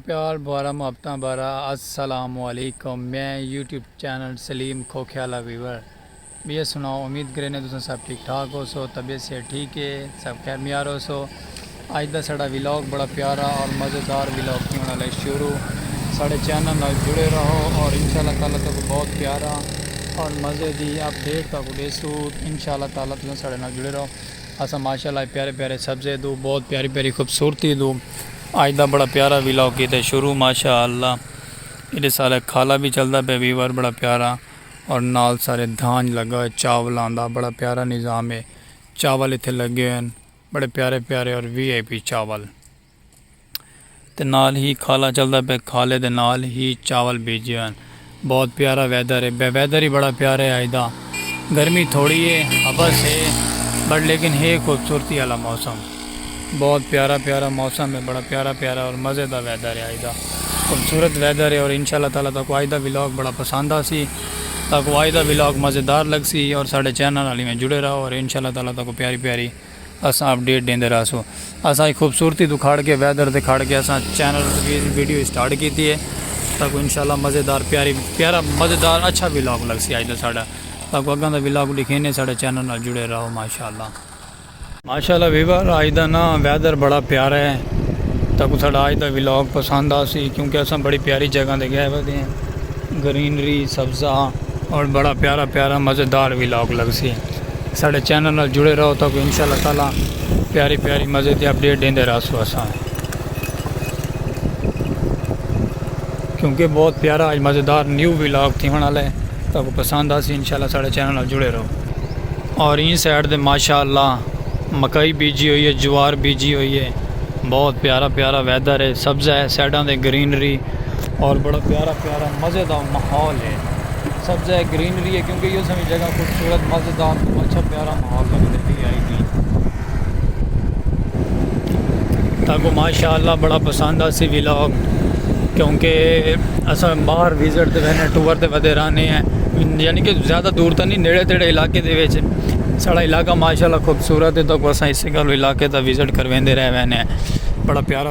پیار بھرا محبتاں بھرا السلام علیکم میں یوٹیوب چینل سلیم کھوکھے آلا ویور بیئے سناؤ امید کرینے تساں سب ٹھیک ٹھاک ہو سو طبیعت صحت ٹھیک ہے سب خیر میار ہو سو اج دا ساڑا ویلاگ بڑا پیارا اور مزیدار ویلاگ کی ہونا لے شروع ساڑے چینل نال جڑے رہو اور انشاءاللہ تعالی تک بہت پیارا اور مزے دی اپ ڈیٹ تک دے سو انشاءاللہ تعالی تساں ساڑے نال جڑے رہو اساں ماشاءاللہ پیارے پیارے سبزے دو بہت پیاری پیاری خوبصورتی دو آج دا بڑا پیارا ویلاگ کیتے شروع ماشاء اللہ ایڈے سارے کھالا بھی چلدا پیا ویور بڑا پیارا اور نال سارے دھانج لگا ہوئے چاولاں دا بڑا پیارا نظام ہے چاول ایتھے لگے ہوئے بڑے پیارے پیارے اور وی آئی پی چاول تے نال ہی کھالا چلدا پیا کھالے دے نال ہی چاول بھیجے ہوئے۔ بہت پیارا ویدر ہے۔ بہ ویدر ہی بڑا پیارا ہے اج دا۔ گرمی تھوڑی ہے ہبس ہے بٹ لیکن ہے خوبصورتی آلا موسم۔ بہت پیارا پیارا موسم ہے بڑا پیارا پیارا اور مزے دا ویدر ہے اج دا۔ خوبصورت ویدر ہے اور انشاءاللہ تعالی تاکو اج دا ولاگ بڑا پسند آسی۔ تاکو اج دا ولاگ مزیدار لگسی اور ساڈے چینل نال ایویں جڑے رہو اور انشاءاللہ تعالی تاکو پیاری پیاری۔ اساں اپ ڈیٹ ڈیندے رہسوں اساں اچ خوبصورتی توں کھڑ کے ویدر تے کھڑ کے اساں چینل دی ویڈیو اسٹارٹ کیتی ہے تاکو انشاءاللہ مزیدار پیاری پیارا مزیدار اچھا ولاگ لگسی اج دا ساڈا تاکو اگاں دا ولاگ ڈکھینے ساڈے چینل نال جڑے رہو ماشاءاللہ ماشاءاللہ ویور اج دا نا ویدر بڑا پیارا ہے تاکو ساڈا اج دا ولاگ پسند آسی کیونکہ اساں بڑی پیاری جگہ تے گئے ہوئے ہیں گرینری سبزہ اور بڑا پیارا پیارا مزیدار ولاگ لگسی ساڈے چینل نال جڑے رہو تاکو ان شاء اللہ تعالی پیاری پیاری مزے دی اپڈیٹ ڈیندے رہسو اساں کیونکہ بہت پیارا اج مزیدار نیو ولاگ تھیون والا ہے تاکو پسند آسی ان شاء اللہ ساڈے چینل نال جڑے رہو اور این سائڈ دے ماشاء اللہ مکئی بیجی ہوئی ہے جوار بیجی ہوئی ہے بہت پیارا پیارا ویدر ہے سبزہ ہے سائڈاں دے گرینری اور بڑا پیارا پیارا مزے دا ماحول ہے سبزہ ہے گرینری ہے کیونکہ ایہو سویں جگہ خوبصورت مزیدار توں اچھا پیارا ماحول لگدے پی اے آئی ٹی تاکو ماشاءاللہ بڑا پسند آسی ویلاگ کیونکہ اساں باہر وزٹ تے وینے ٹور تے ودے رہنے ہیں یعنی کہ زیادہ دور تا نہیں نیڑے تیڑے علاقے دے ویچ ساڑا علاقہ ماشاءاللہ خوبصورت ہے تاکو اساں اسے گالو علاقے تا وزٹ کر ویندے رہ وینے ہیں بڑا پیارا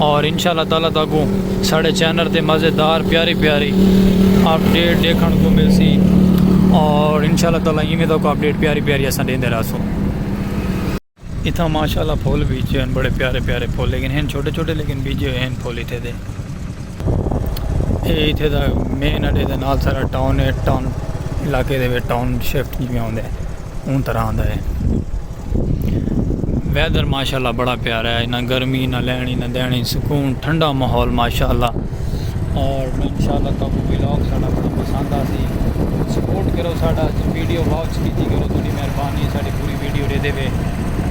اور انشاءاللہ تعالی تاکوں ساڑے چینر تے مزیدار پیاری پیاری اپ ڈیٹ دیکھن کو مل سی اور انشاءاللہ تعالی ایمیں تاکو اپ ڈیٹ پیاری پیاری اساں دین دے راسوں اتھا ماشاءاللہ پھول بھی جو ہیں بڑے پیارے پیارے پھول لیکن ہیں چھوٹے چھوٹے لیکن بھی جو ہیں پھول ہی تھے دے یہ تھے دا مین اڈے دے نال سارا ٹاؤن ہے ٹاؤن علاقے دے ٹاؤن شفٹ جی میں آن دے ان طرح آن دے ہیں ویدر ماشاءاللہ بڑا پیارا ہے نہ گرمی نہ لینی نہ دینی سکون ٹھنڈا ماحول ماشاءاللہ اور انشاءاللہ تو کو ویلاگ ساڑا بڑا پسند آ سی سپورٹ کرو ساڑا ویڈیو واچ کیتی کرو تھوڑی مہربانی ہے ساڑی پوری ویڈیو دے دے وے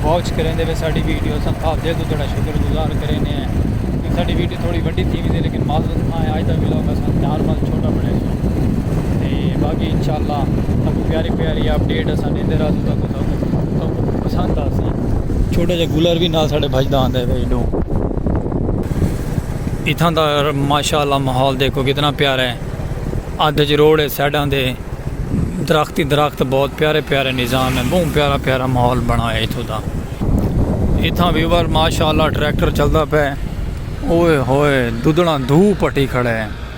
واچ کریں دے وے ساڑی ویڈیو سن تھا دے تو تھوڑا شکر گزار کریں نے ہیں ساڑی ویڈیو تھوڑی وڈی تھی بھی دے لیکن معذرت خواہ ہے آج دا ویلاگ سن چار مال چھوٹا بڑے سو تے باقی انشاءاللہ تکو پیاری پیاری اپڈیٹ سن دے رہا تو تکو پسند آسی چھوٹا جا گلر بھی نال ساڑے بھجدا آندا ہے ایڈو اتھاں دا ماشاءاللہ ماحول دیکھو کتنا پیارا ہے ادھ اچ روڑ ہے سائیڈاں دے درخت ہی درخت بہت پیارے پیارے نظام ہے بہت پیارا پیارا ماحول بنایا ہے اتھوں دا اتھاں ویور ماشاءاللہ ٹریکٹر چلدا پے اوئے ہوئے دودڑاں دھو پٹی کھڑے ہیں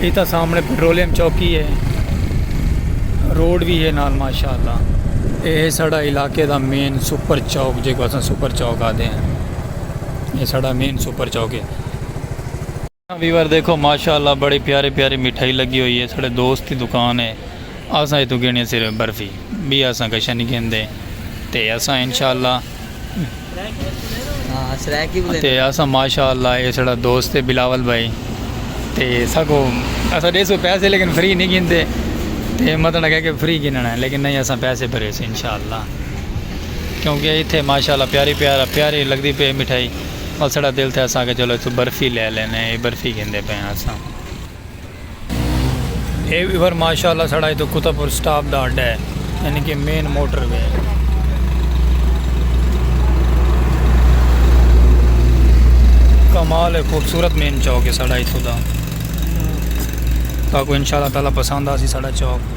ایتھا سامنے پیٹرولیم چوکی ہے روڈ بھی ہے نال ماشاءاللہ اے ہے ساڑا علاقے دا مین سپر چوک جے کو اساں سپر چوک آدھے ہیں اے ساڑا مین سپر چوک ہے ویور دیکھو ماشاءاللہ بڑی پیاری پیاری مٹھائی لگی ہوئی ہے ساڑے دوست دی دکان ہے اساں ایتھوں گھنی صرف برفی بھی اساں کشا نہیں گھن دے تے اساں انشاءاللہ تے اسا ماشاء اللہ اے سڑا دوست ہے بلاول بھائی تے سکو اسا دے سو پیسے لیکن فری نہیں گھنتے تے مطلب ہے کہ فری گھننا ہے لیکن نہیں اسا پیسے بھرے سے انشاءاللہ کیونکہ ایتھے ماشاءاللہ پیاری پیارا پیاری لگدی پے مٹھائی اور سڑا دل تھے اسا کہ چلو تو برفی لے لینے اے برفی گھندے پے اسا اے ویور ماشاءاللہ سڑا ایتو کتا پور سٹاپ دا اڈا ہے یعنی کہ مین موٹر وے ہے کمال ہے خوبصورت مین چوک ہے سڑا ایتو دا تاکو انشاءاللہ تعالی پسند آسی سڑا چوک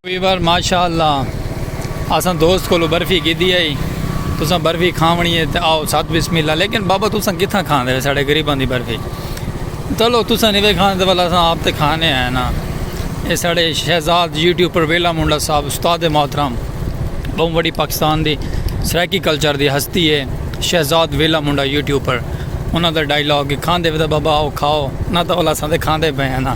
ویور ماشاء اللہ اساں دوست کو برفی گیدی آئی تساں برفی کھاونی ہے تو آؤ سات بسم اللہ لیکن بابا تساں کتنا کھان دے ساڑے غریبان دی برفی چلو تساں نہیں کھان دے والا اساں آپ تے کھانے ہیں نا یہ ساڑے شہزاد یوٹیوب پر ویلا منڈا صاحب استاد محترم بہت بڑی پاکستان دی سرائیکی کلچر دی ہستی ہے شہزاد ویلا منڈا یوٹیوب پر انہوں نے ڈائیلاگ کھان دے بابا آؤ کھاؤ نہ تو والا اساں تے کھان دے پہ ہیں نا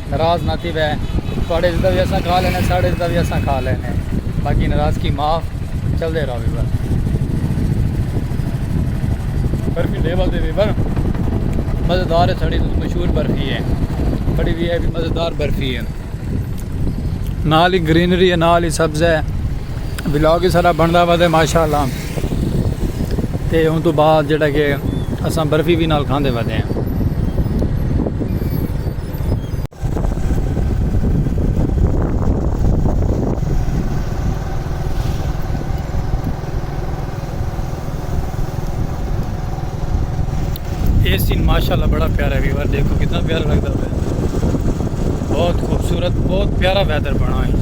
ناراض نہ تھیوے تہاڈے عزت دا وی اساں کھا لینے ساڈے عزت دا وی اساں کھا لینے باقی ناراضگی معاف چلدے راہوے بس۔ برفی لیول تے وی بر مزیدار ہے ساڈی توں مشہور برفی ہے بڑی وی ہے بھی مزیدار برفی ہے نال ہی گرینری ہے نال ہی سبز ہے ولاگ ہی سارا بندا وا تے ماشاءاللہ تے اون توں بعد جیڑا کہ اساں برفی وی نال کھاندے ودے ہیں یہ سین ماشاءاللہ بڑا پیارا ہے ویور دیکھو کتنا پیارا لگتا ہے بہت خوبصورت بہت پیارا ویدر بنا ہے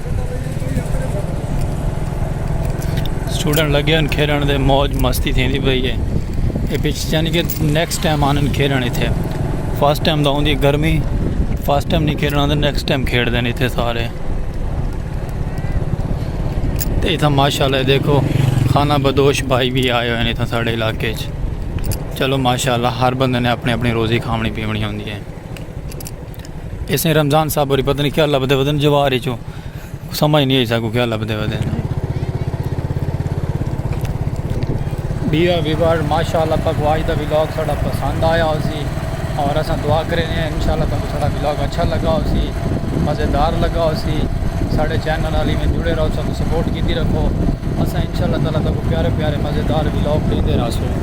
سٹوڈنٹ لگے ان کھیلن دے موج مستی تھیندی پئی ہے اے پچ یعنی کہ نیکسٹ ٹائم آن کھیلن ایتھے فرسٹ ٹائم دا ہوندی گرمی فرسٹ ٹائم نہیں کھیلنا تے نیکسٹ ٹائم کھیڑ دین ایتھے سارے تے ایتھا ماشاءاللہ دیکھو خانہ بدوش بھائی بھی آئے ہوئے ہیں ایتھا ساڑے علاقے چ چلو ماشاءاللہ ہر بندے نے اپنی اپنی روزی کھامنی پیونی ہوندی ہے اس نے رمضان صاحب اور پتہ نہیں کیا لبدے ودن جوار ہی چو سمجھ نہیں آئی سا کو کیا لبدے ودن بیا ویور ماشاءاللہ تک واج دا ویلاگ ساڑا پسند آیا ہو سی اور اساں دعا کرے ہیں انشاءاللہ تک ساڑا ویلاگ اچھا لگا ہو سی مزیدار لگا ہو سی ساڑے چینل علی میں جڑے رہو سب سپورٹ کیتی رکھو اساں انشاءاللہ تعالی تک پیارے پیارے مزیدار ویلاگ دیندے رہو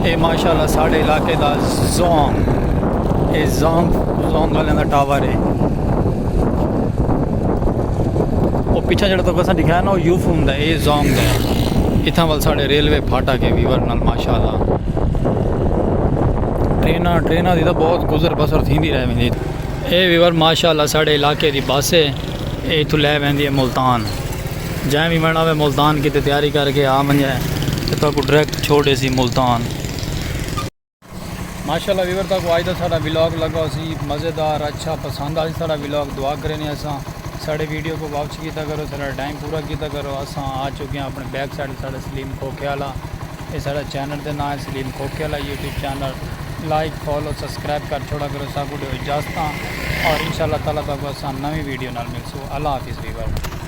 اے ماشاءاللہ ساڈے علاقے دا زونگ اے زونگ زونگ والے دا ٹاور اے او پیچھے جڑا تو کسا دکھایا نا او یو فون دا اے زونگ دا اتھا ول ساڈے ریلوے پھاٹا کے ویور نال ماشاءاللہ ٹرینا ٹرینا دی دا بہت گزر بسر تھیندی رہ ویندی اے ویور ماشاءاللہ ساڈے علاقے دی بس اے اے تو لے ویندی اے ملتان جئیں وی وینڑا وے ملتان کیتے تیاری کر کے آ ونجے تے تہاکوں ڈریکٹ چھوڑ ڈیسی ملتان۔ ماشاءاللہ ویور تہاکوں آج دا ساڈا ولاگ لگا ہوسی مزیدار اچھا پسند آسی ساڈا ولاگ دعا کرینے اساں ساڈے ویڈیو کو واچ کیتا کرو ساڈا ٹائم پورا کیتا کرو اساں آ چکے آں اپنے بیک سائیڈ تے ساڈا سلیم کھوکھے آلا اے ساڈا چینل دے ناں ہے سلیم کھوکھے آلا YouTube channel like follow subscribe کر چھوڑا کرو ساکوں ڈیو اجازتاں اور انشاءاللہ تعالی تہاکوں اساں نویں ویڈیو نال ملسوں اللہ حافظ ویور۔